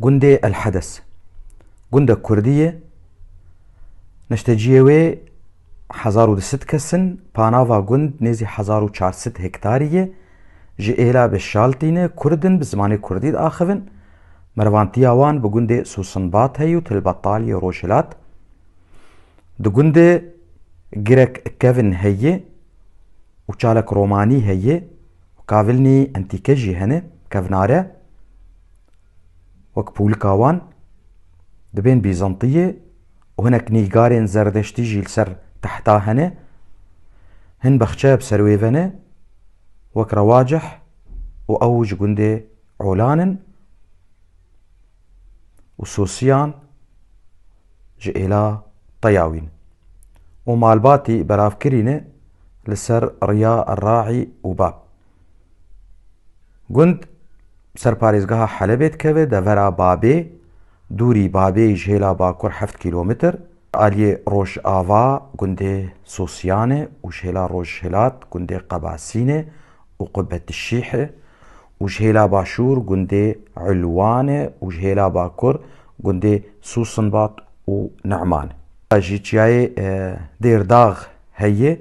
Gundê El Hedes gundek kurdî ye. Neşteciyê wê hezar û du sed kes in. Panava gund nêzî hezar û çar sed hektarî ye. Ji êla bi şal tîne, kurd in, bi zimanê kurdî diaxivin. Merivandtiya wan bi gundê Susinbat heye û Tilbetal yê rojhilat. Di gundê girek kevin heye û çalek romanî heye û kavilnî entîke jî hene, kevnare. Wek pûlika wan, dibên Bîzantiyê û hinek nîgarên Zerdeştî jî li ser tehta hene, hin bexçeya bi ser wê ve ne, wek Rewacih û ew ji gundê Olan in û Sosiyan ji êla Teyawîn û malbatî beravkirî ne li ser riya Raî û Bab. Gund ser parêzgeha Helebê dikeve devera Babê, dûrî Babê ji hêla bakur heft kîlometr. Aliyê Rojava gundê Sosyan e û ji hêla rojhilat gundê Qebasîn e û Qubetişîh e û ji hêla başûr gundê Ulwan e û ji hêla bakur gundê Susinbat û Numan e. Ji çiyayê Dêrdax heye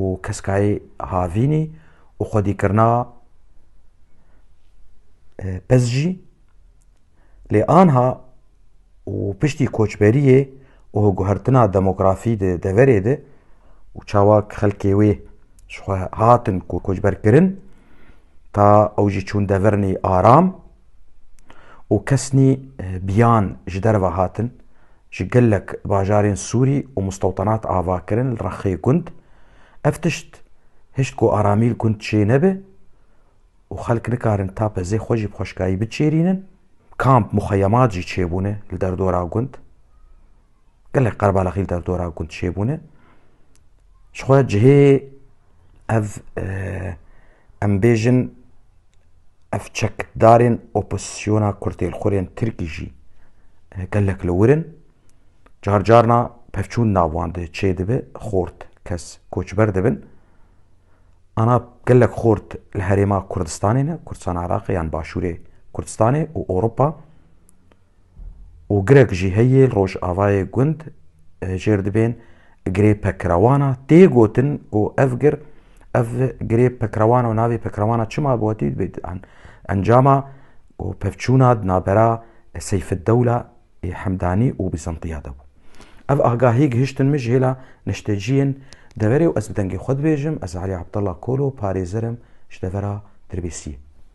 û keskayê havînî û xwedîkirina piz jî lê anha û piştî koçberiyê û guhertina demografî di deverê de û çawa xelkê wê ji xwe hatin koçberkirin ta ew jî çûn devirinî aram û kesnî biyan ji derve hatin, ji gelek bajarên Sûrî û mustewtanat ava kirin li Rexê gund. Ev tişt hişt ku aramî li gund çê nebe û xelk nikarin tapezê xwe jî bi xweşkayî biçêrînin. Kamp, muxeyemat jî çêbûne li derdora gund. Gelek qerbalaxî li territora ku dişêbûne ji xwe cihê ev e, em bêjin ev çekdarên opozîsyona kurtêlxurên Tirkî jî e, gelek li wir in. Car carna pevçûn navan de çê dibe xort kes koçber dibin. Ana gelek xort li herêma Kurdistanê ne, Kurdistana Iraqê yan başûrê Kurdistanê û Ewropa. û girek jî heye li rojavayê gund hicêr dibên girê pekrewana, tê gotin ku ev gir, ev girê pekrewana û navê pekrewana çima bi wetî dibê encama û pevçûna di navbera Seyfiddewla ê Hemdanî û Bîzantiya de bû. Ev agahî gihiştin min ji hêla neşteciyên deverê û ez bi dengê xwe dibêjim ez Elî Abdallah Kolo parêzer im ji devera Dirbêsiyê.